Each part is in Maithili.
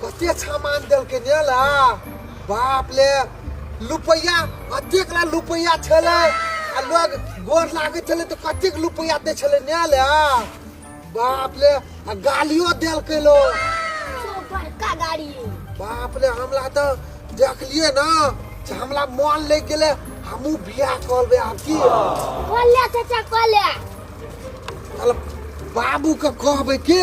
कते सामान देलकै ने ला बाप ले लुपैया अतेक ला लुपैया छलै आ लोग गोर लागै छलै तऽ कतेक लुपैया दै छलै ने ला बाप ले आ गालियो देलकै लो जो बड़का गाड़ी बाप ले हमला तऽ देखलियै ना से हमला मोन लागि गेलै हमहूँ बियाह करबै आब की कॉले चाचा कॉले साला बाबूके कहबै के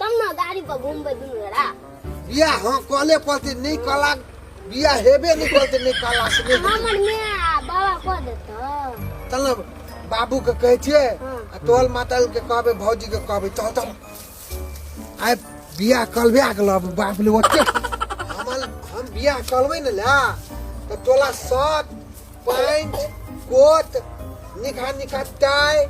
तब ना गाड़ी पर घूमबे दुनू जरा बिया हाँ कहले पड़ते नहीं कला बिया हेबे नहीं करते नहीं कला से नहीं हमर में आ बाबा कह देत चल बाबू के कहे छे हाँ। आ तोहल माता के कहबे भौजी के कहबे चल चल आय बिया कलबे आ गेल अब बाप ले ओते हमल हम बिया कलबे न ला तो तोला सब पानि कोत निकहा निकहा टाइ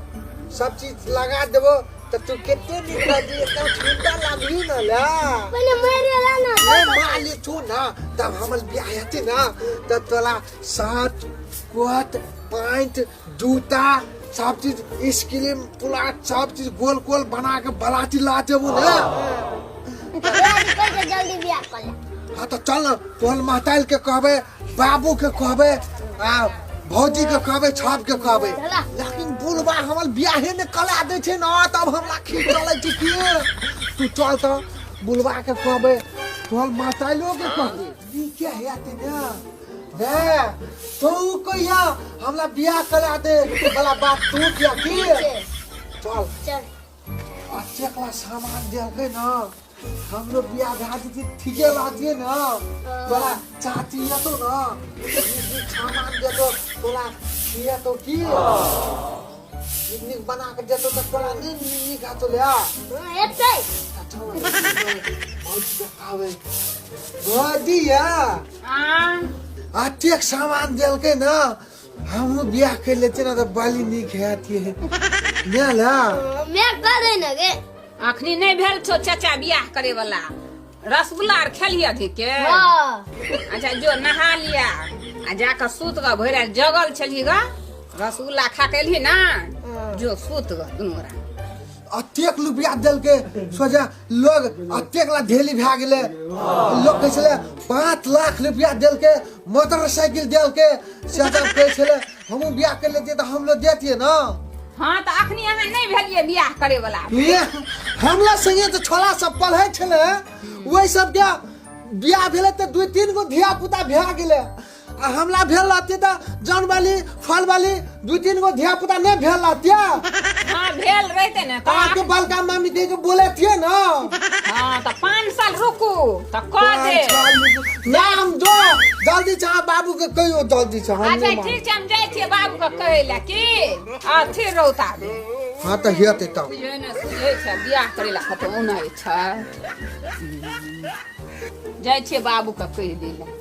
सब चीज लगा देबो तऽ तू कते नीक रहबी एकदम ठंडा लागबी ना ला पहिले मारि ला ना ले माली तू ना तब हमर बियाह हेतै ना तऽ तोरा सात कोत पाँच जूता सब चीज स्क्रीम पुलाट सब चीज गोल गोल बना के बलाती ला देबो ना जल्दी बियाह कर ले हाँ तऽ चल न तोहर महताइल के कहबै बाबू के कहबे आ भौजी के कहबे छाप के कहबे लेकिन बुढ़बा हमर बियाहे ने कला दे छै ना तब हमरा खींच चले छै की तू चल त बुढ़बा के कहबे तोहर माताइलो के कहबे ई क्या है आते ना हे तो ऊ कहिया हमरा बियाह कला दे वाला बात तू किया की चल चल अच्छे वाला सामान देलकै ना हमरो बियाह भए जेतै ठीके बातिए ना तोरा चाची एतौ ना सामान देतौ तोरा खिएतौ की नीक नीक बना कऽ देतौ तऽ तोरा नहि नीक हेतौ ले एतै बहुत देखाबै भऽ दिया आ अतेक सामान देलकै ना हम बियाह कर लेते ना तो बाली नहीं खेती है ना ला मैं कर रही ना गे अखनी नहीं भेल छो चाचा बियाह करे वाला रसगुल्ला आर खेली अधिक के हाँ अच्छा जो नहा लिया आ जाकर सूत गा भोर रात जगल छली गा रसगुल्ला खा के एलही ना जो सूत गा दुनू गोरा अतेक रुपया देलकै सोझा लोग अतेक ला ढेली भए गेलै लोग कहै छलै पाँच लाख रुपया देलकै मोटरसाइकिल देलकै से सब कहै छलै हमहूँ बियाह कर लेतियै तऽ हमरो देतियै ने हाँ तऽ अखनी अहाँ नहि भेलियै बियाह करे वाला ये, हमरा संगे तऽ छोला सब पढ़ै छलै ओहि सबके बियाह भेलै तऽ दू तीन गो धिया पुता भए गेलै आ हमला भेल रहती तऽ जन वाली फल वाली दू तीन गो धिया पुता नहि भेल रहती हाँ भेल रहते ने तो अहाँके बड़का मम्मी के बोले थिए ना हाँ तो पाँच साल रुकू तो कह दे नाम दो जल्दी छ बाबू के कहियो जल्दी छ अच्छा ठीक छै हम जाइ छियै बाबू के कहै लए की अथी रौता दे हाँ तो हेतै त बुझै ने सुझै छै बियाह करै लए कतौ उनै छै जाइ छियै बाबू के कहि दै लए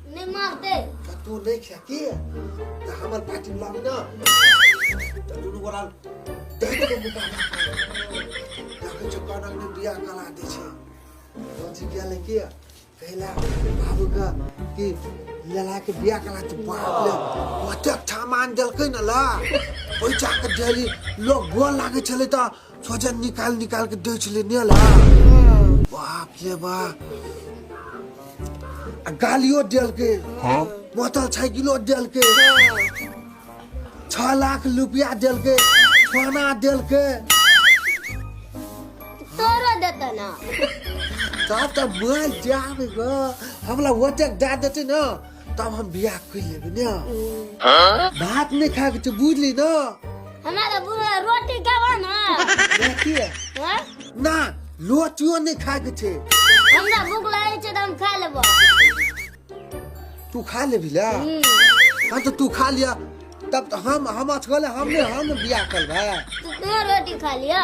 नहीं मारते तो तू नहीं खेती है तो हमार पार्टी बुला ना तो दुनू गोरा देख के बुका ना ताके चक्का ना ने बिया कला दे छे रोजी बिया लेके कहला बाबू का कि लला के बिया कला तो बाप ले ओते ठामान देलकै न ला ओइ जाके डेली लोग गोल लागे छले त सोजन निकाल निकाल के दै छलै ने ला बाप रे बा आ गालियो देलकै बोतल साइकिलो देलकै छह लाख रुपया देलकै सोना देलकै तोरो देता ना तब तऽ मर जाब गऽ हमरा ओतेक दए देतै ने तब हम बियाह कर लेबे ना भात नहीं खा के तो बुझ ली ना हमारा बुरा रोटी खावा ना देखी है हाँ? ना रोटियो नहीं खा के छे हमरा भूख लगे छै तऽ हम खा लेबो तू खा लेबी ला हाँ तो तू खा लिया तब तो हम हम अथगले हमने हम बियाह करबे तू तोहर रोटी खा लिअ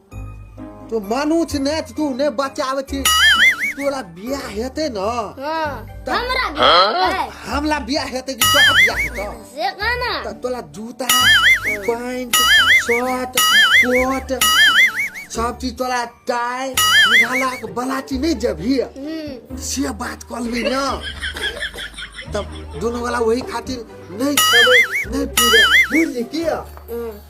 तो मानू छी ने तू ने बचावे छी तोरा बियाह हेते न हां हमरा बियाह हमरा बियाह हेते कि तोरा बियाह हेतो से गाना त तोरा जूता पैंट शर्ट कोट सब चीज तोरा टाई निघाला के बलाटी नहीं जबही हम्म। से बात कर ली ना तब दोनों वाला वही खातिर नहीं खेबे नहीं पीबे बुझ किया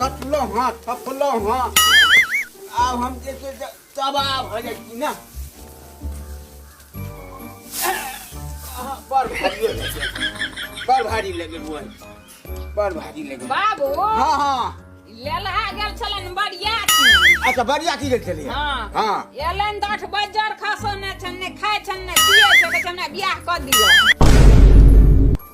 कटलो हाँ थपलो हाँ आब हम जे छै से तबाह भऽ जाइ छी ने आहा, बड़ भारी लगल बड़ भारी लगल बुआ बड़ भारी लगल बाबू हाँ हाँ लेलहा गेल छलन बरियाती अच्छा बढ़िया की गेल छलियै हाँ। हाँ एलन दठ बजर खसो ने छन ने खाय छन ने पिए छन ने बियाह कऽ दियो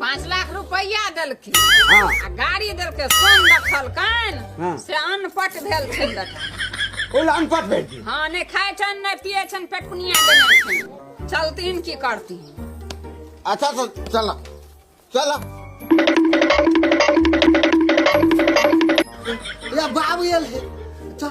पाँच लाख रुपैया देलखिन हाँ आ गाड़ी देलकै सोन रखलकैन हाँ। से अनपट भेल छनि बेटा ओ अनपट भेल छी हाँ नहि खाइ छनि नहि पियै छनि पेटकुनिया देने छनि चलथिन की करथिन अच्छा तो चल चल या बाबू एल है चल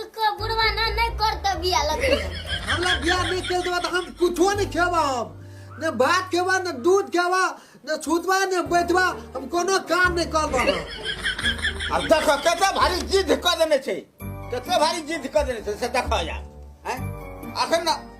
एको बुढ़वा ना नहीं करते बिया लगे हमरा बियाह नहीं खेल देबा तो हम कुछो नहीं खेबा हम ने भात खेबा ने दूध खेबा ने छूतबा ने बैठबा हम कोनो काम नहीं करबा हम। अब देखो कते भारी जिद क देने छै कते भारी जिद क देने छै से देखो यार हैं अखन ना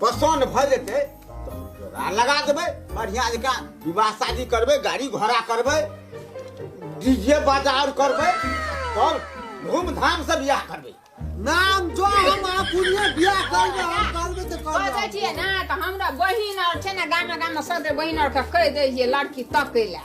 पसन्द भऽ जेतै तऽ हम जोड़ा लगा देबै बढ़िआँ जकाँ विवाह शादी करबै गाड़ी घोड़ा करबै डीजे बाजा आओर करबै तब धूमधामसँ बियाह करबै नाम जो हम आपुनिए बियाह करबै हम करबै तऽ कह दै करबै छियै ने तऽ हमरा बहिन आर छै ने गामे गामे सदर बहिन आरके कहि दै छियै लड़की तकै लए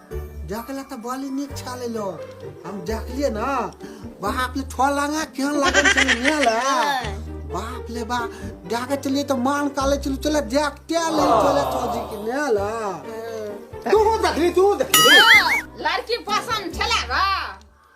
देखला तऽ बड़ी नीक छलै लो हम देखलिए ना बाप ले ठो लगा केहन लागल छलै ने ले बाप ले बा जाके चलिए तऽ मान काले चलू चले देखते ले चले चौजी के ने ले तू देखली तू देखली लड़की पसंद छला गा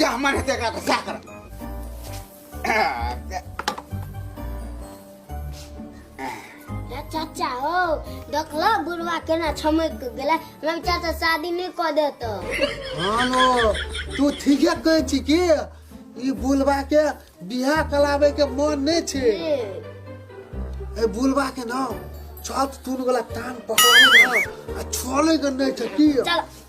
जा मन हेतै एकरा तऽ सएह करब रे चाचा हो देखलो बुढ़वा केना छमक के गेले हमरा विचार से शादी नहीं कर देतो हानो तू ठीके कहै छी कि ई बुलबा के बियाह कराबै के मन नहि छै ए बुलबा के ना छत तून वाला कान पकड़ाबै ना आ छोड़ै के नहि छै की चल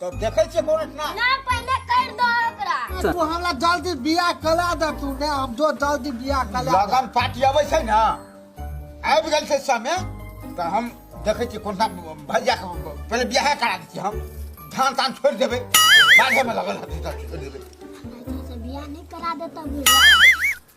तो देखे छे कौन इतना ना पहले कर दो ओकरा तू हमरा जल्दी बियाह करा दे तू ने हम जो जल्दी बियाह करा दे। लगन पार्टी आवे छे ना आबि गेल छे समय तो हम देखे छे कौन सा भैया के पहले बियाह करा दी हम धान तान छोड़ देबे बाढ़े में लगल हती तो छोड़ देबे से बियाह नहीं करा देता बुढ़वा